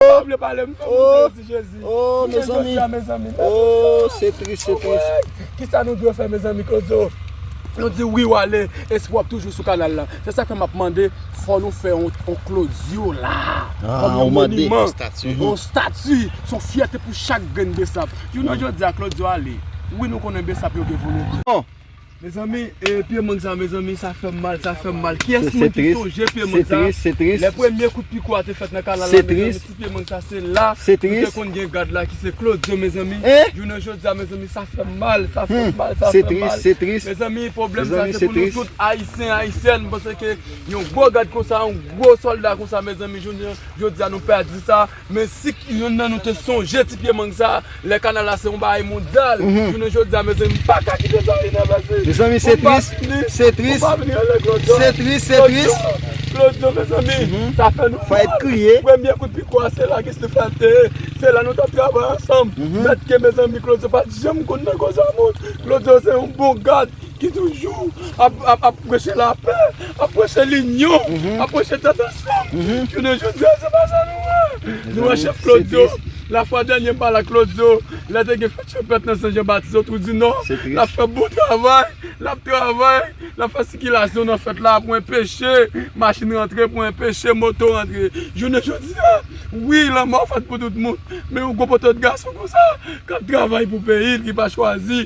pa vle pale m fè moun plezi jezi Kijan jodi a mezanmi Kisa nou dwe fè mezanmi kozo Nou di wi wale Espwa ap toujou sou kanal la Se sa fè m ap mande fò nou fè yon klodyo la Kòm yon moniman Yon stati Yon fyète pou chak grenn besap Jounen jodi a klodyo ale Wi nou konnen besap yo gen volonte Mezanmi e pye mang sa mezanmi sa fèm mal sa fèm mal kiyès moun ki sonje pye mang sa lè premye kout piko a te fèt nan kanal la mezanmi ti pye mang sa se la nou te konn gen gad la ki se klodyo mezanmi jounen jodia mezanmi sa fèm mal sa fèm mal sa fèm mal mezanmi pwoblèm sa se pou nou tout ayisyen ayisyèn paske yon gwo gad konsa yon gwo solda konsa mezanmi jounen jodia nou pèdi sa. Men si youn nan nou te sonje ti pye mang sa lè kanal la se yon bagay mondyal jounen jodi a mezanmi m pa ka kite sa rive mezanmi mezanmi se tris se tris se tris se tris klodyo mezanmi sa fè nou mal premye kout piko a se la gis li fèl te ye se la nou tap travay ansanm mèt ke mezanmi klodyo pat janm konn nan koze a moun klodyo se yon bon gad ki toujou ap preche lapè, ap preche linyon, ap preche tèt ansanm, jounen jodi a se pa sa nou wè, nou wè chèf Claudio, la fwa dènye m pale ak Claudio, lè te gen fèt chanpèt nan Sen Jan Batis o Trou di Nò, lap fè bon travay, lap travay, lap fè sikilasyon nan fèt la pou enpeche machin rantre, pou enpeche moto rantre, jounen jodi a, wi lanmò fèt pou tout moun, men yon gwo potòt gason konsa, kap travay pou peyi l ki pa chwazi.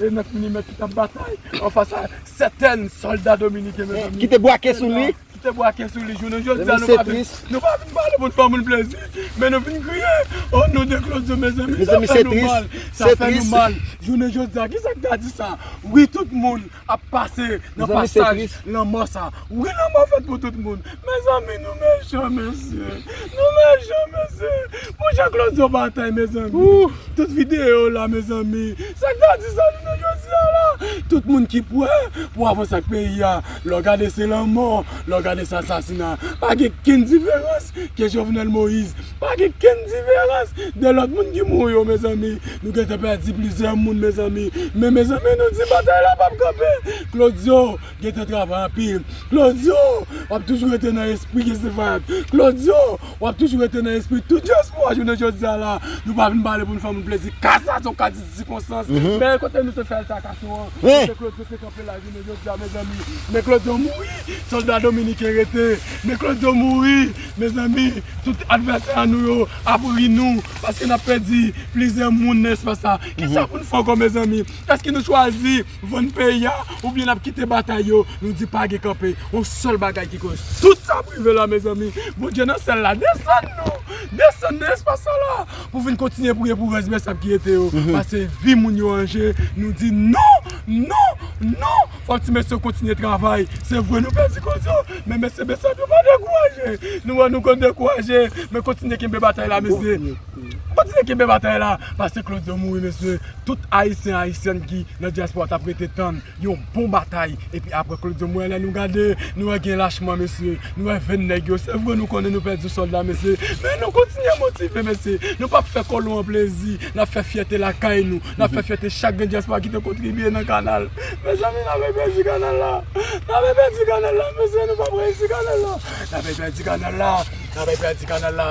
E 9 milimèt ki tap batay anfas a sèten sòlda dominiken mezanmi. Ki te bwake sou li. Ki te bwake sou li. Jounen jodi a nou pa vin. Nou pa vin pale pou n fè moun plezi. Men nou vin kriye. O non de Claudio mezanmi. Mezanmi se tris. Sa fè nou mal. Sa fè nou mal. Jounen jodi a kisa ki ta di sa. Wi tout moun ap pase nan pasaj lanmò sa. Wi lanmò ap fèt pou tout moun. Mezanmi nou mechan mesye nou mechan mesye bon jan claude yon batay mezanmi tout video la mezanmi sak ta di sa jounen jodia la tout moun ki prè pou avanse ak peyi a lè w gade se lanmò lè w gade se asasina pa gen kenn diferans ke jovenel moïse pa gen kenn diferans de lòt moun ki mouri yo mezanmi nou gentan pèdi plizyè moun mezanmi men mezanmi nou di batay la pap kanpe claudio Gentan travay anpil. Claudio wap toujou rete nan espri Jessie Vibe. Claudio wap toujou rete nan espri tout dyaspora jounen jodia la. Nou pa vin pale pou nou fè moun plezi. Ka sa se yon ka di sikonstans. Men kote nou te fè altakason an. Kote Claudio te kanpe la jounen jodia mezanmi. Men Claudio mouri. Solda dominiken rete. Men Claudio mouri. Mezanmi tout advèsè a nou yo ap ri nou. Paske nap pèdi plizyè moun nan espas sa. Kisa pou nou fè ankò mezanmi. Eske nou chwazi Vann peyi a oubyen nap kite batay yo nou di pa gen kanpe yon sèl bagay ki koz tout sa ap rive la mezanmi Bondye nan syèl la desann nou desann nan espas sa la pou vin kontinye priye pou rès bèsab ki rete yo pase vi moun yo an je nou di non non non fòk ti mesye yo kontinye travay se vre nou pèdi koz yo men mesye bèsab yo pa dekouraje nou wè nou konn dekouraje men kontinye kenbe batay la mesye. Kontinye kenbe batay la pase Claude yo mouri mesye tout ayisyen ayisyèn ki nan diaspora tap rete tann yon bon batay epi aprè Claude yo mouri lè nou gade nou wè gen lachman mesye nou wè venn nèg yo se vre nou konnen nou pèdi sòlda mesye men nou kontinye motive mesye nou pap fè kolon an plezi nap fè fyète lakay nou nap fè fyète chak grenn diaspora ki te kontribye nan kanal mezanmi nap repèdi kanal la nap repèdi kanal la mesye nou pap reyisi kanal la nap repèdi kanal la nap repèdi kanal la.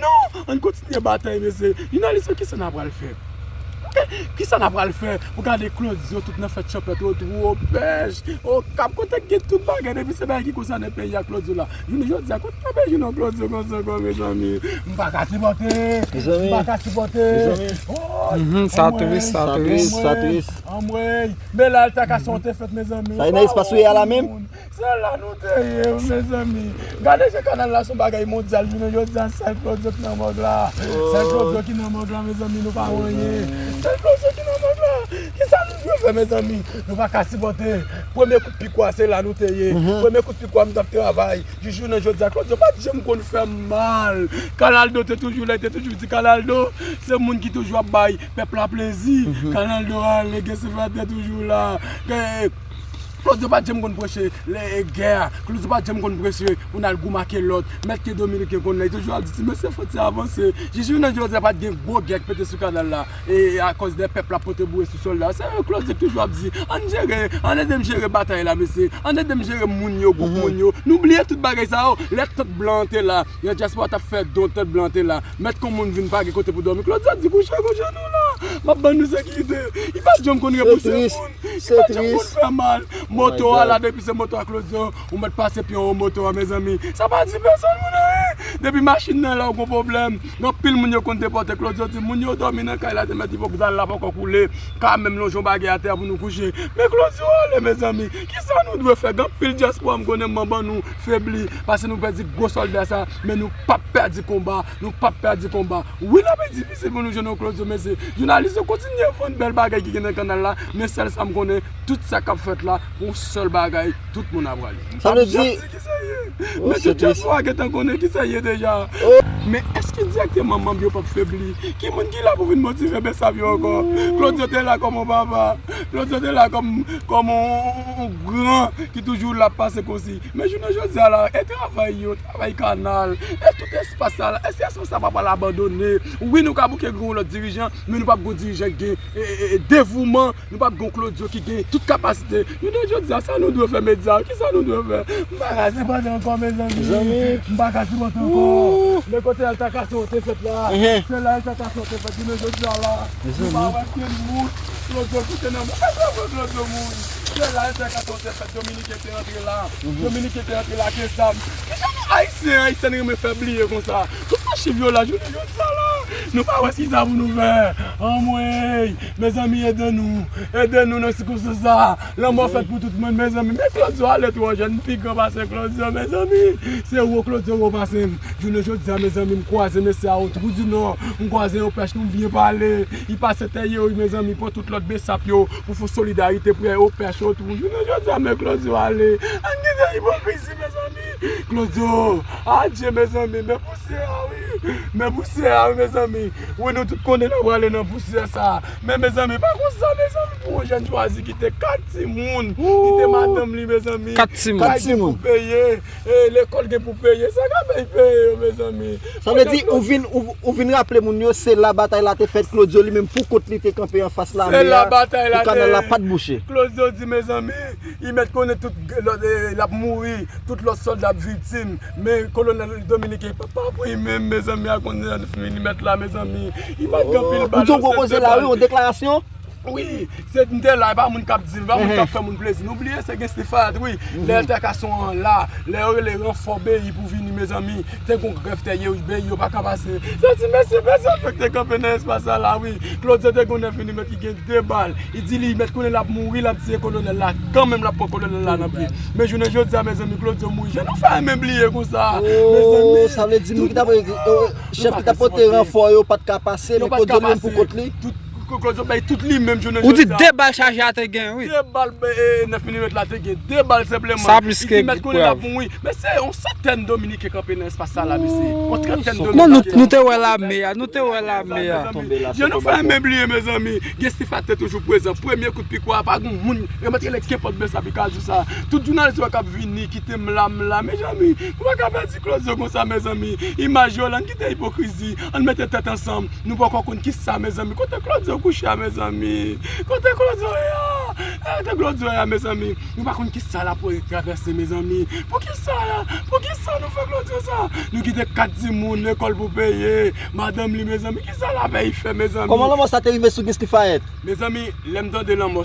Non! Ann kontinye batay mesye. Jounalis yo kisa na pral fè? Ok! Kisa na pral fè pou gade Claude yo tout nan fè tchòpèt o twou o pèch o kap kote gen tout bagay depi se bagay ki konsane peyi a Claude yo la jounen jodi a kote na pral jwenn yon Claude yo konsa ankò mezanmi m paka sipòte m paka sipòte ooyy sa tris sa tris anmweyy anmweyy Belal ta ka son te fèt mezanmi waww tout moun. Se la nou te ye mezanmi. Gade jan kanal la son bagay mondyal jounen jodia sèl Claudio ki nan mòg la sèl Claudio ki nan mòg la mezanmi nou pa anyen sèl Claudio ki nan mòg la kisa nou dwe fè mezanmi nou pa ka sipòte premye kout pik wa se la nou te ye premye kout pik wa m tap travay jis jounen jodia Claudio pat janm konn fèm mal Canaldo te toujou la li te toujou di Canaldo se moun ki toujou ap bay pèp la plezi Canaldo ale gen sylvanthe toujou la. Claudio pat janm konn preche lè gè a, Claudio pat janm konn preche pou n al goumen ak yon lòt, mèt ke Dominiken konn la, li toujou ap di ti mesye fòk ti avanse. Jis jounen jodi a pat gen gwo gè k pete sou kanal la e akòz de pèp lap pote boure sou sòlda yo, se Claudio k toujou ap di ann jere, ann ede m jere batay la mesye, ann ede m jere moun yo, gwoup moun yo, nou bliye tout bagay sa yo lè tant blan an te la. Lè dyaspora tap fè don tèt blan te la mèt kon moun vin pa gen kote pou dòmi Claudia di kouche ak yon je nou la map ban nou sekirite li pat janm konn repousse moun li pat janm konn fè mal moto a la depi se moto a Claudio ou mèt pase pye anwo moto a mezanmi sa pa di pèsòn moun anyen depi machin nan la ou gon pwoblèm gen anpil moun yo konn depòte Claudio di moun yo dòmi nan kay la te mèt ipokriza la poko koule ka menm lonje yon bagay atè a pou nou kouche men Claudio ale mezanmi kisa nou dwe fè gen anpil dyaspora m konnen m ban nou. febli paske nou pèdi gwo sòlda sa men nou pap pèdi konba nou pap pèdi konba wi lap difisil pou nou jwenn yon klotyo mesye jounalis yo kontinye vann bèl bagay ki gen nan kanal la men sèl sam konnen tout sa kap fèt la pou yon sèl bagay tout moun ap rale sa vle di mesye tchèlfò a gentan konnen ki sa l ye deja men èske dirèkteman manb yo pap febli ki moun ki la pou vin motive besav yo ankò klotyo te la kòm yon papa klotyo te la kòm yon On gran ki toujou la pase konsi. Men jounen jodi a la, e travay yo, travay kanal, e tout espas sa la, èske espas sa pa pral abandone? Wi nou ka bouke gen yon lòt dirijan, men nou pap gen yon dirijan ki gen devouman, nou pap gen yon Claudio ki gen tout kapasite. Jounen jodi a, sa nou dwe fè medya yo? Kisa nou dwe fè? M pa ka sipòte ankò mezanmi. M pa ka sipòte ankò. Men kote altakasyon an te fèt la, se la altakasyon an te fèt. Jounen jodi a la, nou pa wè pye moun Claudio kite nan moun. Èske nou wè Claudio moun? Se la entèkansyon te fèt dominiken te antre la, dominiken te antre la ke zam. Kijan nou ayisyen, ayisyèn renmen fè bliye konsa. Tout sa chiv yo la jounen jodi sa la. Nou pa wè kisa pou nou fè. Anmweyy mezanmi ede nou, ede nou nan sikonstans sa. Lanmò fèt pou tout moun mezanmi. Men klodyo ale twò jèn m pi gran pase klodyo mezanmi. Se wo klodyo wo pase m. Jounen jodi a mezanmi m kwaze mesye a o twou di nò, m kwaze yon pèch nou byen pale. Li pase tè ye wi mezanmi pran tout lòt besap yo. Pou fon solidarite prè yo pès yo tou. Jounen jodi a men klodyo ale. An ki jan ipokrizi mezanmi. Klodyo adye mezanmi men pousyè a wi. Men pousyè a wi mezanmi. Wi nou tout konnen nou prale nan pousyè sa. Men mezanmi pa konsa mezanmi pou yon jèn chwazi kite 4 timoun. Kite madanm li mezanmi. 4 timoun. Kay ki pou peye. E lekòl gen pou peye sa ka fè y peye yo mezanmi. Sa vle di ou vin ou vin raple moun yo se la batay la te fèt Claudio li menm pou kont li te kanpe anfas lame a Se la batay la te pou kanal la pat bouche. Claudio di mezanmi li mèt konnen tout lòt lap mouri tout lòt sòlda ap viktim men kolonèl Dominique pa pa pou li menm mezanmi a konnen li mèt la mezanmi li mèt gen pil bal Ou di yon gwo koze la wi yon deklarasyon Wi, se m te la, e pa moun k ap di l, e pa moun k ap fè moun plezi. Nou bliye se gen Stéphane wi, lè altèkasyon an la, lè yo rele ranfò BI pou vini mezanmi, te gen yon grèv tèyè wi, BI yo pa ka pase. Se yon ti mesye bezwen yo ki te kanpe nan espas sa la wi. Claudio te gen yon enfimyè ki gen de bal, li di li mèt konnen l ap mouri, l ap tiye kolonèl la, kanmenm l ap pran kolonèl la nan pye. Men jounen jodi a mezanmi Claudio mouri. Jan nou fè renmen bliye konsa a mezanmi. Sa vle di moun ki t ap, chèf ki t ap pote ranfò yo pa t ka pase, men Claudio li menm pou kont li? Claude Job bay tout li menm jounen jodi a. Ou di 2 bal chaje a te gen wi. 2 bal 9 milimetre la te gen. 2 bal senpleman. Sa plis ke prèv. Li te mèt konnen lap mouri. Mesye yon santèn dominiken kanpe nan espas sa la mesye. Yon trantèn dominiken. Non nou te wè lame a. Nou te wè lame a. Jan nou fè men bliye mezanmi. Gen sifatè toujou prezan. Premye kout pikwa a pa gen moun. Yo mèt rele kenpòt bèsa pi kajou sa. Tout jounalis yo kap vini kite m la m la. Mezanmi nou pa ka pèdi Claude Job konsa mezanmi. Imaj yo la. N kite ipokrizi. An mete tèt ansanm. Nou poko konn kisa mezanmi kote claudio kouche a mezanmi kote claudio ye a kote claudio ye a mezanmi nou pa konn kisa lap travèse mezanmi poukisa poukisa nou fè claudio sa nou kite 4 timoun lekòl pou peye madanm li mezanmi kisa lavey fè mezanmi. Kòman lanmò sa te rive sou Guy Stuphaët? Mezanmi lèm tande lanmò sa.